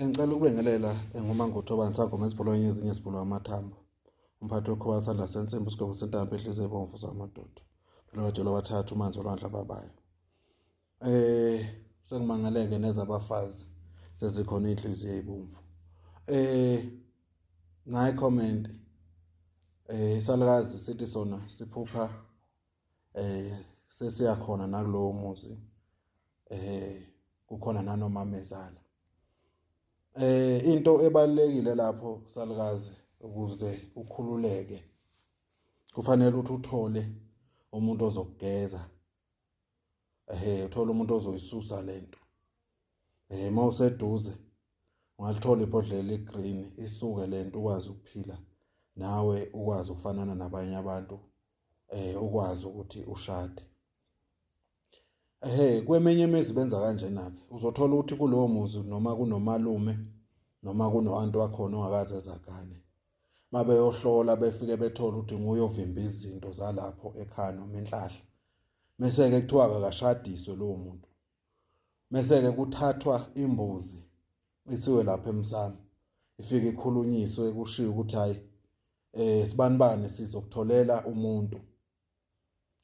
Ngicela ukubingelela eh, ngumangutho abangisangoma ezibholweni ezinye ezibholwa amathambo. Umphathi wekhoba sandla sensimbi usigwebo sentambo ehlize ebomvu zamadoda. Phela bajelwa bathathu umanzi olwandle ababayo. Eh sengimangaleke neza abafazi sezikhona inhliziyo ebomvu. Eh ngayi comment eh isalukazi sithi sona siphupha eh sesiyakhona nakulowo muzi. eh kukhona nanomamezala eh into ebalekile lapho salukazi ukuze ukhululeke kufanele ukuthi uthole umuntu ozokugeza ehe uthola umuntu ozoyisusa lento eh mawuseduze ungalithola ibhodlela igreen isuke lento ukwazi ukuphila nawe ukwazi ukufanana nabanye abantu eh ukwazi ukuthi ushade Ehhe, kweminye imizi benza kanjena-ke. Uzothola ukuthi kulowo muzi noma kunomalume noma kuno-anti wakhona ongakaze ezagane. Uma beyohlola befike bethole ukuthi nguye ovimba izinto zalapho ekhaya noma inhlahla. Mese-ke kuthiwa kakashadiswe lowo muntu. Mese-ke kuthathwa imbuzi isiwe lapha emsamo. Ifike ikhulunyiswe kushiwo ukuthi hhayi um eh, sibanibani sizokutholela umuntu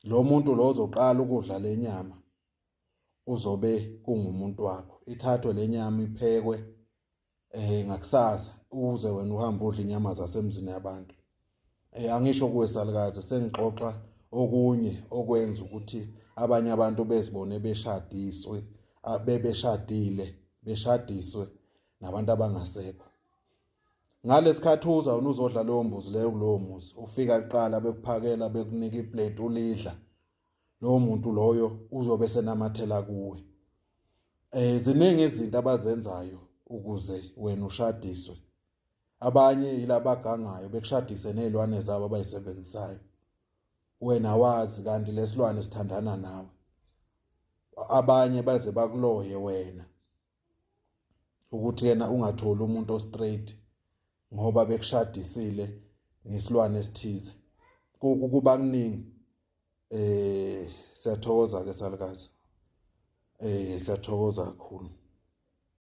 lo muntu lo ozoqala ukudla le nyama uzobe kungumuntu wakho ithathwe le nyama iphekwe eh ngakusasa uze wena uhamba udla inyama zasemzini yabantu eh angisho kuwe salukazi sengixoxa okunye okwenza ukuthi abanye abantu bezibone beshadiswe bebeshadile beshadiswe nabantu abangasekho Ngalesikhathi uza wena uzodla leyo mbuzi leyo kulowo muzi ufika kuqala bekuphakela bekunika iplate ulidla lowo muntu loyo uzobe senamathela kuwe eh ziningi izinto abazenzayo ukuze wena ushadiswe abanye yilabagangayo bekushadise nezilwane zabo abayisebenzisayo wena wazi kanti lesilwane sithandana nawe abanye baze bakuloye wena ukuthi yena ungatholi umuntu ostraight ngoba bekushadisile ngesilwane esithize kuba kuningi eh siyathokoza ke salukazi eh siyathokoza kakhulu